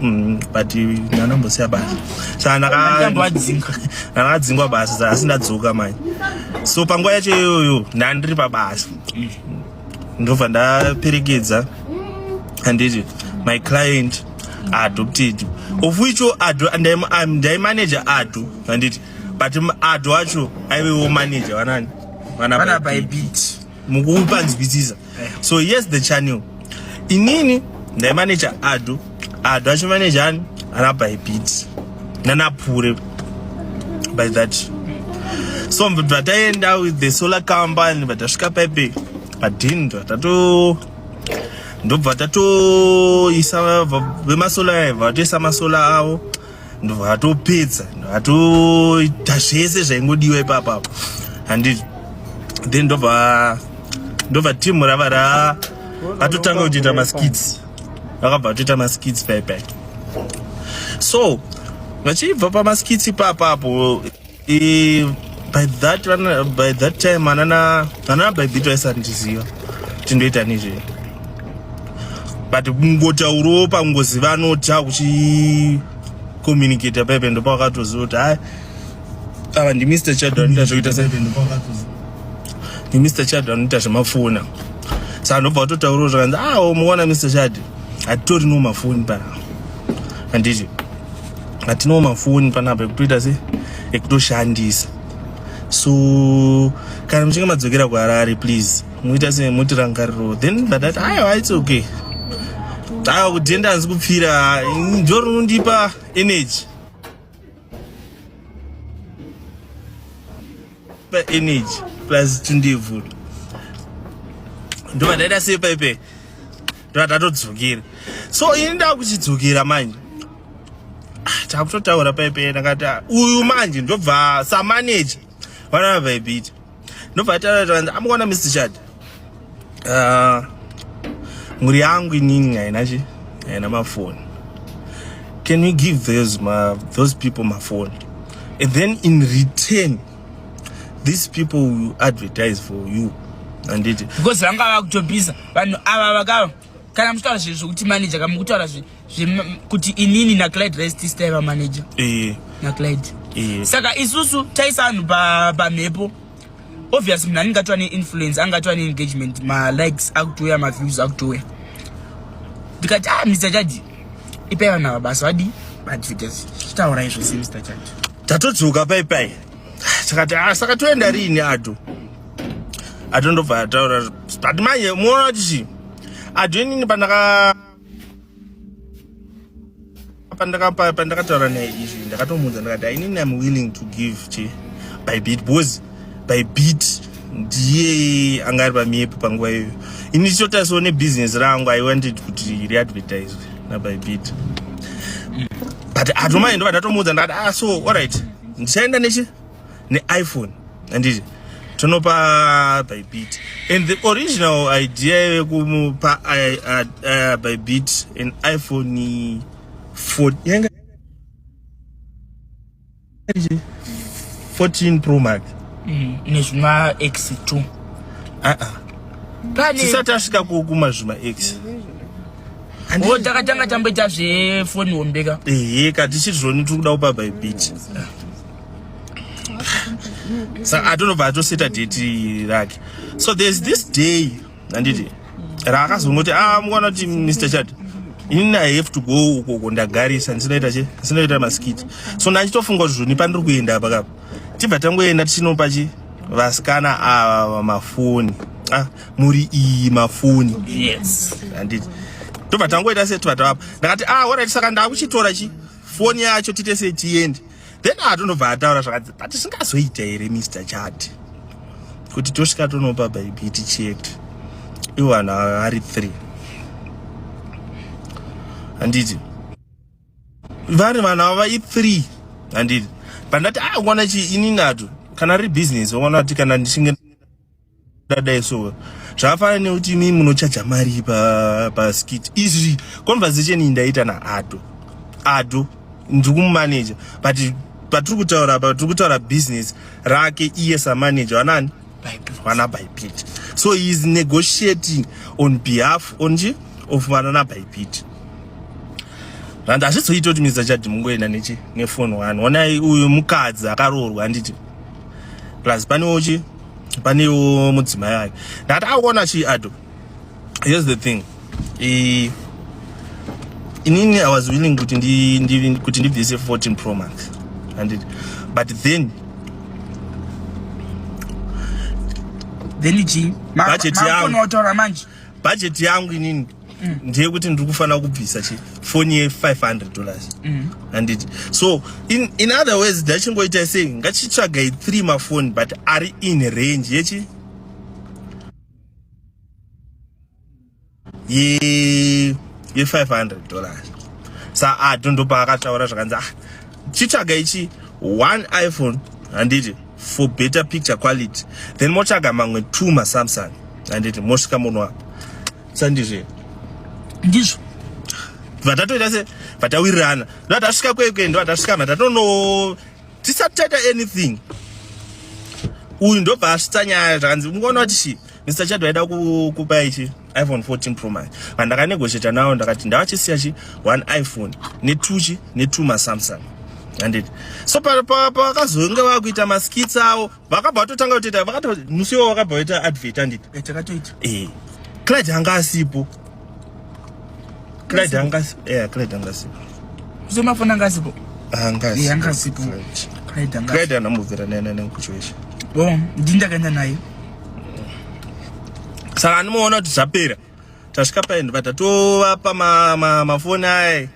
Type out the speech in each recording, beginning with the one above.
Mm, but ndanombosiya basa sa ndakadzingwa basa sa asi ndadzoka manje so panguva yacho iyoyo ndandiri pabasa ndobva ndaperekedza handiti my client adopted of which ado ndaimanager ado handiti but ado acho aivewo manager vanani vana bybit mukupanzwisisa eh. so yes the channel inini ndaimaneja ado ado achimaneja ani ana bybit nanapure by that so vataenda with the solar company vatasvika paipe padhindo vatato ndobva tatoisa vemasola vatoisa masola avo ndobva atopedza atoita zvese zvaingodiwa ipapa handi then ndobva ndobva timu rava ra atotanga kutoita maskits vakabva atoita maskits paipai so vachibva pamaskits ipapapo Eh, by that vana by that time anana anana by bit vaisandiziva kuti ndoita nezve but kungotaurawo pangoziva anota kuchi communicate pepe ndo pakatoziva kuti hayi ava ndi mr chad anoita zvekuita se ndi mr chad anoita zvemafona saka ndobva watotaurawo zvakanzi ah muona mr chad hatitorino mafoni pa handiti atinawo mafoni panapa ekutoita se ekutoshandisa so kana muchinge madzokera kuharare please muita se muti rangariro then vadati aiwa its okay ava kudhenda hanzi kupfira ndo rinondipa energy pa energy plus tundevhura ndovadaita sei paipe ndatatodzokera so ini ndakuchidzokera manje ah, takutotaura paipe ndakati ah, uyu manje ndobva samaneja vanana vaibita ndobva taaa amukona mr chad ah, mhuri yangu inini haina chi haina mafoni can we give those, ma, those people mafoni and then in return these people will advertise for you anditi because vanga vakutopisa vanhu ava vaka kana muchitaura zvinhu zvokuti manager kama kutaura kuti inini naclide rest tistaiva manager eh. naclide eh. saka isusu taisa vanhu pamhepo obvious munhu anenge atova neinfluence anga atova neengagement malikes akutouya maviews akutouya ndikati ah mr chadi ipai vanhu ava basa vadii advertise taura izvo se mr chadi tatodzoka paipai takati ah, saka toenda riini ato atondobva ataura but manje muona kuti chii adhoinini pandaka pandakataura naye izvi ndakatomuudza ndakati ainini am willing to give che by bit because by bit ndiye anga ari pamiepo panguva iyoyo ini ndichitotariswa nebhiziness rangu i wanted kuti riadvertiswe naby bit but atomai ndova ndatomuudza ndakati ah so allright ndichaenda nechi neiphone handiti tonopa bybit and the original idea yekumupa bybit an iphone 14 pro max mm, nezvima x 2 aa tisati asvika kukuma zvima x o takatanga tamboita zvefoni hombeka ehe ka tichiri zvoni tiri kuda kupa bybit saka atonobva atoseta deti rake so there's this day handiti raakazongoti a ah, mukwana kuti mr chad inini i have to go uko uko ndagarisa ndisinoita che ndisinoita masikiti so ndachitofunga kuti zvoni pandiri kuenda apa kapa tibva tangoenda tichinopa chi vasikana ava mafoni ah, muri iyi mafoni yes handiti tobva tangoita se tibva tavapa ndakati a ah, orit saka ndakuchitora chi foni yacho tite sei tiende then atonobva ataura zvakati but zvingazoita here mr chad kuti tosvika tonopa baibi tichete ivo vanhu vari three handiti vari vanhu ava i three handiti pandati awana ah, chi ini nato kana riri business waona kuti kana ndichinge dadai so zvafana nekuti imi munochaja mari paskit izvi conversation iyi ndaita naado ado ndiri kumumanaja but patiri kutaura apa tiri kutaura business rake iye samanaja wanani vana bypit so he is negotiating on behalf onje of vana nabypit and hazvizoiti kuti mr chadi mungoenda nechi nefoni wani onai uyu mukadzi akaroorwa handiti plus panewochi panewo mudzimai ayo ndati akuona chii ado here's the thing e, inini i was willing kuti ndi, ndi, kuti ndibvise 14 pro month andit but then then ichi budget yangu budget yangu inini mm. ndiye kuti ndiri kufanira kubvisa chi foni ye 500 dollars mm. handiti so in, in other ways ndachingoita sei ngachitsvagai three mafoni but ari in range yechi ye ye 500 dollars sa a dondopa akataura zvakanzi ah chitsvaga ichi one iphone handiti for better picture quality then motsvaga mamwe two masamsung handiti mosvika muno apa sandizve ndizvo vatatoita se vatawirirana ndovatasvika kwekwe ndovatasvika vatatono tisati taita anything uyu ndobva asvitsa nyaya zvakanzi ungaona kuti shi mr chad vaida kukupa ichi iphone 14 pro max vandakanegoshieta nawo ndakati ndavachisiya chi one iphone netwo chi netwo masamsung anditi so pavakazonge vakuita maskits awo vakabva vatotanga kutoita vakato musi iwo vakabva vaita advert anditi eh, takatoita eh clyde anga asipo clyde anga eh clyde anga asipo kusomafona anga asipo anga asipo eh, anga asipo clyde anga clyde anamubvira naye naye kuchoisha bo oh, ndini ndakaenda naye saka anomuona kuti zvapera tasvika paendi vatatova pamafoni aye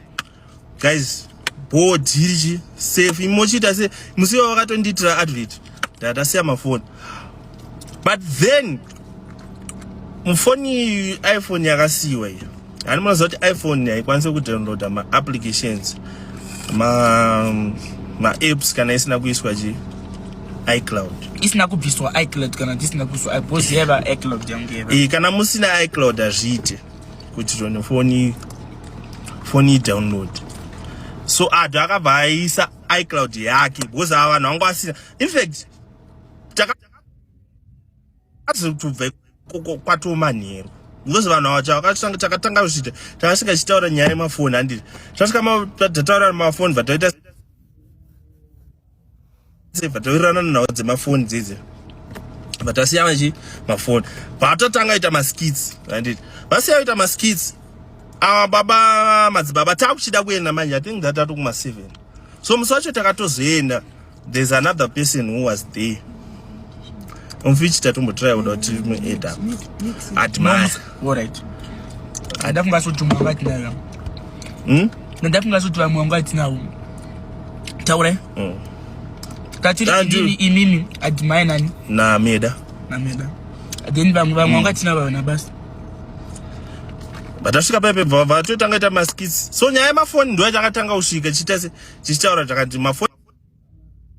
guys bho dhiriji safe imochiita se musi iwa vakatondiitira advert ndatasiya mafoni but then mufoni iphone yakasiyiwa iyo hani munoziva kuti iphone haikwanise kudownloada maapplications maapps kana isina kuiswa chi icloud isina kubviswa icloud kana tisina kuiswa icloud kana musina icloud hazviite kuti tone foni foni download so adu akabva aisa icloud yake because ava vanhu vanga vasina infact takazotubva kwatomanheru because vanhu ava chavakatanga takatanga kuchiita takasvika chitaura nyaya yemafoni handiti tasvika tataura mafoni vataita Save toirana nawo dzemafoni dzidzi. But asiya vachi mafoni. Vatotanga ita maskits, right? Vasiya ita maskits. Awa baba madzibaba takuchida kuenda manje. I think that atokuma 7. So musi wacho takatozoenda. There's another person who was there. mfichi tatombotraya kuda kuti mueda admire alright ada kunga soti mwangu atinayo hmm? nda kunga soti vamwe wangu atinawo taurai hmm. tatiri inini inini admire nani nameda nameda then vamwe vamwe wangu hmm. atina vavana basi vatasvika paipe vatotanga ita maskits so nyaya yemafoni ndo yachangatanga kusvika chichitaura chakati mafoni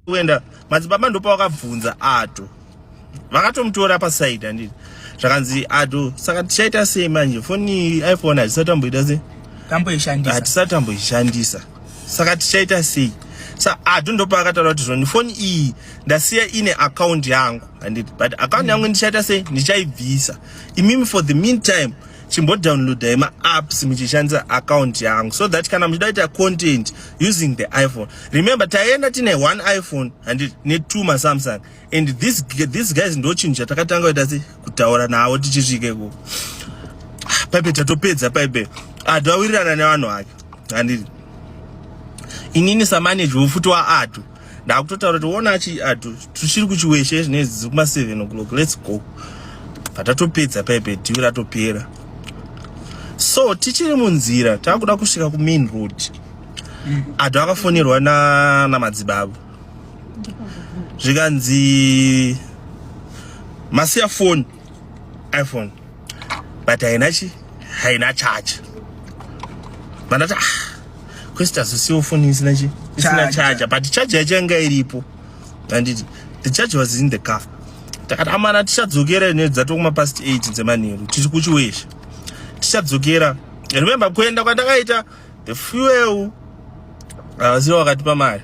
kuenda madzibaba ndopa vakabvunza ato vakatomutora pasaidi handiti zvakanzi ato saka tichaita sei manje foni iphone hatisati tamboita sei hatisati tamboishandisa saka tichaita sei sa ato ndopa akataura kuti zvoni foni iyi ndasiya ine akaunti yangu handiti but akaunti yangu ndichaita sei ndichaibvisa imimi for the meantime chimbodownloadai maapps muchishandisa account yangu so that kana muchida kuita content using the iphone remember taienda tine one iphone handiti netwo masamsung and this, this guys ndochinhu chatakatanga kuita se kutaura navo tichisvike ku ah, paipe tatopedza paipe adu ah, awirirana nevanhu vake handiti inini samanage wefuti waadu ndakutotaura kuti wona achi adu ah, tuchiri kuchiweshe zvinezi dziri kuma 7 o'clock let's go patatopedza paipe divi ratopera so tichiri munzira takuda kusvika kumain road mm. adu akafonerwa na namadzibabo zvikanzi masiya foni iphone but haina chi haina charge vandati ah kwesita zosiwo foni isina chi isina charger but charger yacho yanga iripo anditi the charger was in the car takati amana tichadzokera ine dzatokuma past 8 dzemanheru tiri kuchiwesha tichadzokera remember kuenda kwatakaita the fuel avaziva wakatipa mari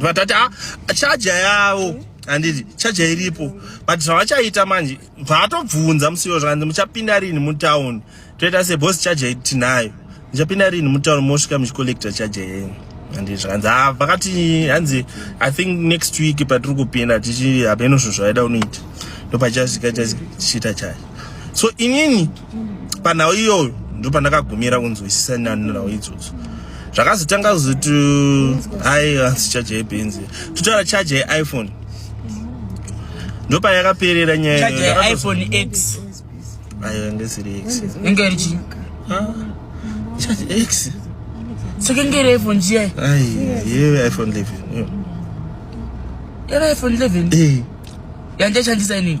vatati ah, chaja yavo handiti chaja iripo but zvavachaita manje vatobvunza musiwo zvakanzi muchapinda rini mutown toita sebos chaja tinayo muchapinda rini mutown mosvika muchicollecta chaja yenyu handiti zvakanzi ah, vakati hanzi i think next week patiri kupinda tichi hapeno zvinhu zvavaida unoita ndopachasvika tichiita chaja so inini panhau iyoyo ndo pandakagumira kunzwisisa nanhau idzodzo zvakazotanga kuzoti hai hanzi chaja yebenzi totaura chaja yeiphone ndo payakaperera nyayaiphone x ayo yange isiri x yange iri chii chaja x soke ngere iphone chiya ye iphone 11 yaiphone 11 yandiashandisa inini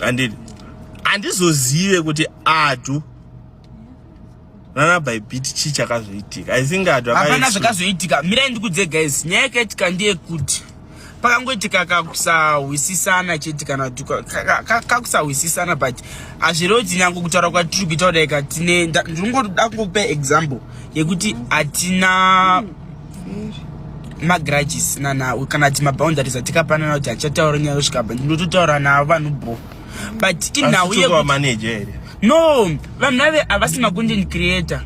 handidi handizozive kuti adu nanabhaibhiti chii chakazoitika i think adu hapana zvakazoitika mirai ndikudze guys nyaya yakaitika ndeyekuti pakangoitika kakusahwisisana chete kana kakusahwisisana but hazvirewo kuti nyange kutaura kwatiri kuita kudai katine ndingoda kungokupa example yekuti hatina mm. magrudges nana kana kuti maboundaries atikapanana kuti achataura nyaya yosvika pa ndinototaura navo vanhu bo but inhau no vanhu vave havasi macontent creator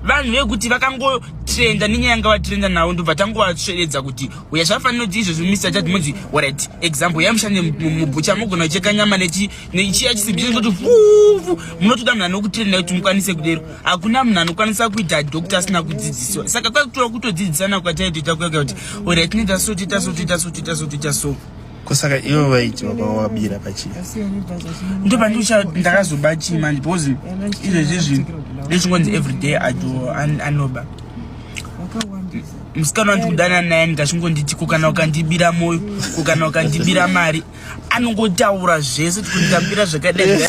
vanhu vekuti vakangotrenda nenyaya yanga vatrenda navo ndobva tangovasveredza kuti uya zvafanira kuti izvozvo misa chati munzi orit example yamushande mubhucha mogona kucheka nyama nechiya chisimbi chinototifufu munotoda munhu anokutrenda kuti mukwanise kudero hakuna munhu anokwanisa kuita doctor asina kudzidziswa saka kwakutora kutodzidzisana kwataitoita kuya kuya kuti orit tinoita so toita so toita so toita so toita so kosaka ivo vaiti vakawabira pachii ndo pandicha ndakazoba chii manje because izvezvi zvinhu ndechingonzi everyday ado anoba musikana wandikudana naye ndikachingonditi kukana ukandibira moyo kukana ukandibira mari anongotaura zvese tikunditambira zvakadai